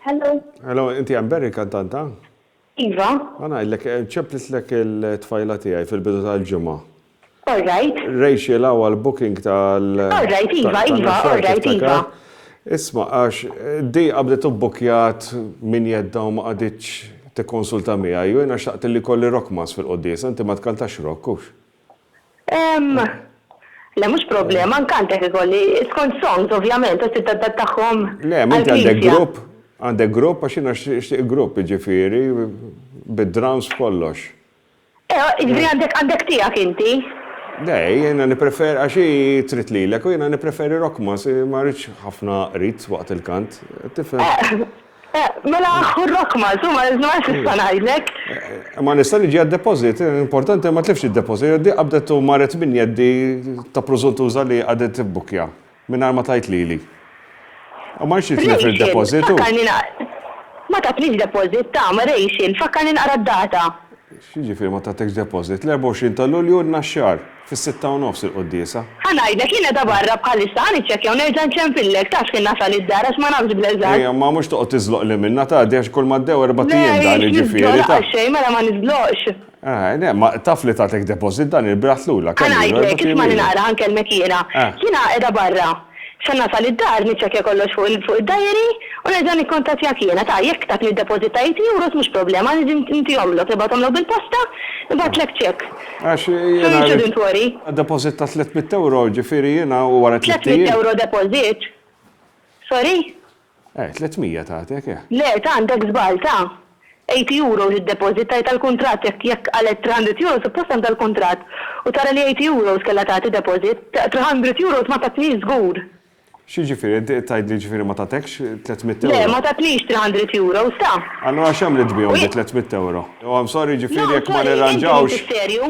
Hello. Hello, inti Amber il-kantanta? Iva. Ma ngħidlek, eh, ċemplistlek il-tfajla tiegħi fil-bidu tal-ġimgħa. All right. Rachel għaw għal-booking tal. All right, Iva, Iva, all right, Iva. Isma, għax eh, di għabdet ubbukjat min jedda u ma għaditx tikkonsulta miegħi, u jiena xaqt li kolli rockmas fil-qoddis, inti ma tkantax rock, kux? Le mhux problema, anke għand hekk ikolli, skont songs ovvjament, għax tiddadattahom għall-Knisja. Le, m'inti għandek grupp, għandek grupp għax jiena nixtieq grupp, jiġifieri bid-drums b'kollox. Eh, jiġifieri għandek għandek tiegħek inti? Le, jiena nippreferi għax hi trid lilek u jiena nippreferi Rockmas, ma rridx ħafna qrid waqt il-kant, tifhem? Mela hu r-rock Maltu, ma nistax nista' ngħidlek. Ma nista' niġi għad-deposit, importanti ma tlifx id-deposit, di qabdet u marret minn jeddi ta' preżuntuża li qagħdet tibbukja mingħajr ma tgħid lili. U ma rridx nitlef id-deposit u. Ma tatnix deposit, tama, Rachel, fakkarni naqra d-data. X'jiġifieri ma tatekx deposit? L-24 ta' Lulju n-Naxxar. Fis-sitta u nofs il-quddiesa. Ħa ngħidlek, jien qiegħda barra bħalissa, ħa niċċekkja u nerġa' nċempillek, taf x'ħin nasal id-dar għax ma nafx bl-eżatt. Ejja, imma mhux toqgħod tiżloqli minnha, tgħaddi għax kull ma għaddew erbat Le, ijiem dan, m'iniex jiġifieri, niżloq taf. laqas xejn, mela ma niżloqx. Eh, le, ma taf li tagħtek deposit dan il-biraħ tlula, Ħa kemm ilu, erbat ngħidlek, ijiem ismagħni ilu. naqra, ħa nkellmek jiena. Eh. Jiena qiegħda barra. Sa nasal id-dar niċċekkja kollox fuq id-dajeri u nerġa' nikkuntattjak jiena. Ta, jekk tatni d-deposit ta' eighty euros mhux problema, niġi ntihomlok, nibgħathomlok bil-posta, nibgħatlek check. Għax jiena So you shouldn't worry. Deposit ta' tliet mitt ewro, ġifieri jiena u wara tliet ijiem. Tliet mitt ewro deposit? Sorry? Eh, 300 tagħtek, eh. Le, ta' għandek żball, ta'. Eighty euros id-deposit tajtha l-kuntratt jekk jekk qalet three hundred euros suppost għandha l-kuntratt u tara li eighty euros kellha tagħti deposit, ta' three hundred euros ma tatnix żgur. X'jiġifieri, qed tgħidli jiġifieri ma tagħtekx tliet mitt euro? Le, ma tatnix three hundred euros, ta'. Allura x'għamliet bihom bi tliet mitt euro? Oh, I'm sorry, jiġifieri jekk ma nirranġawx,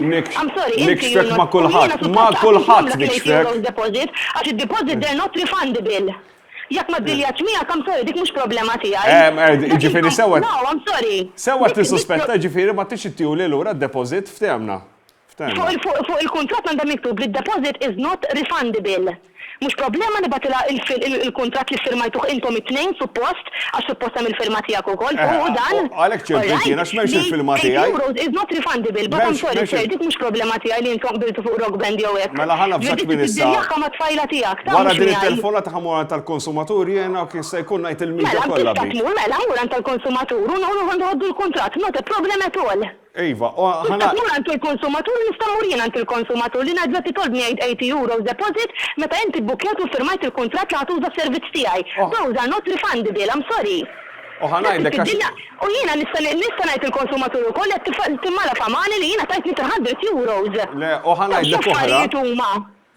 nikx, nikxfek ma' kulħadd, ma' kulħadd nikxfek! Għax id-deposit they're not refundable. Jekk ma ddiljaċ miegħek, I'm sorry, dik mhux problema tiegħi. Jiġifieri sewwa. No, I'm sorry. Sewwa tissuspetta, jiġifieri ma tridx ittihuli lura d-depożit, ftehmna. Fuq il-kuntratt għandha miktub li d-depożit is not refundable. Mhux problema nibgħatilha il-kuntratt li ffirmajtuh intom it-tnejn, suppost, Għax suppost hemm il-firma tiegħek ukoll fuq u dan. Għalhekk ċempilt jien għax m'hemmx il-firma tiegħi. Eighty euros is not refundable but I'm sorry sir dik mhux problema tiegħi li intom qbiltu fuq Rock Band jew hekk. Mela ħa navżak minn issa. Trid iddirjaħħa mat-tfajla tiegħek. Wara din it-telefonata ħa mmur għand tal-konsumatur jien hawn kif se jkun ngħid il-media kollha bi. Mela tista' tmur mela mur għand tal-konsumatur u noħdu l-kuntratt not a problem at all. Iva, u ħa Tista' ngħid. tmur għand il-konsumatur u nista' mmur jien għand il-konsumatur li ngħid bżonn titolbni għid 80 euros deposit meta inti bbukkjajt u ffirmajt il-kuntratt li ħa tuża s-servizz tiegħi. U ħa. Those are not refundable, I'm sorry. U ħa ngħidlek għax. Tiftiddilna u jiena nista' nista' ngħid il-konsumatur ukoll li qed timmala famani li jiena tajtni 300 euros. Le, u ħa ngħidlek oħra. Dawn x'affarijiet huma?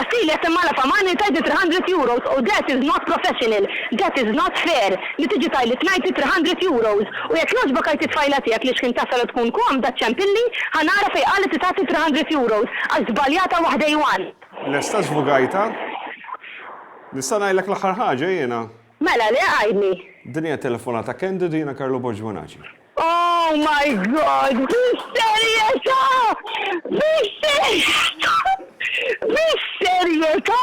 Attilja semma' la famani tajt li three hundred euros u that is not professional, that is not fair li tiġi tajli tnajti three hundred euros u jekk jogħġbok għid it-tfajla tiegħek li xħin tasal u tkun komda ċċempilli ħa nara fejn qalet li tagħti three hundred euros għax żbaljata waħda i want. Lesta żvugajtha? Nista' ngħidlek l-aħħar ħaġa jiena? Mela le, għidli. Din hija telefonata candid u jiena Carlo Borg Bonaci. Oh my God! Bis-serjetà! Bis-serjetà! Bis-serjetà!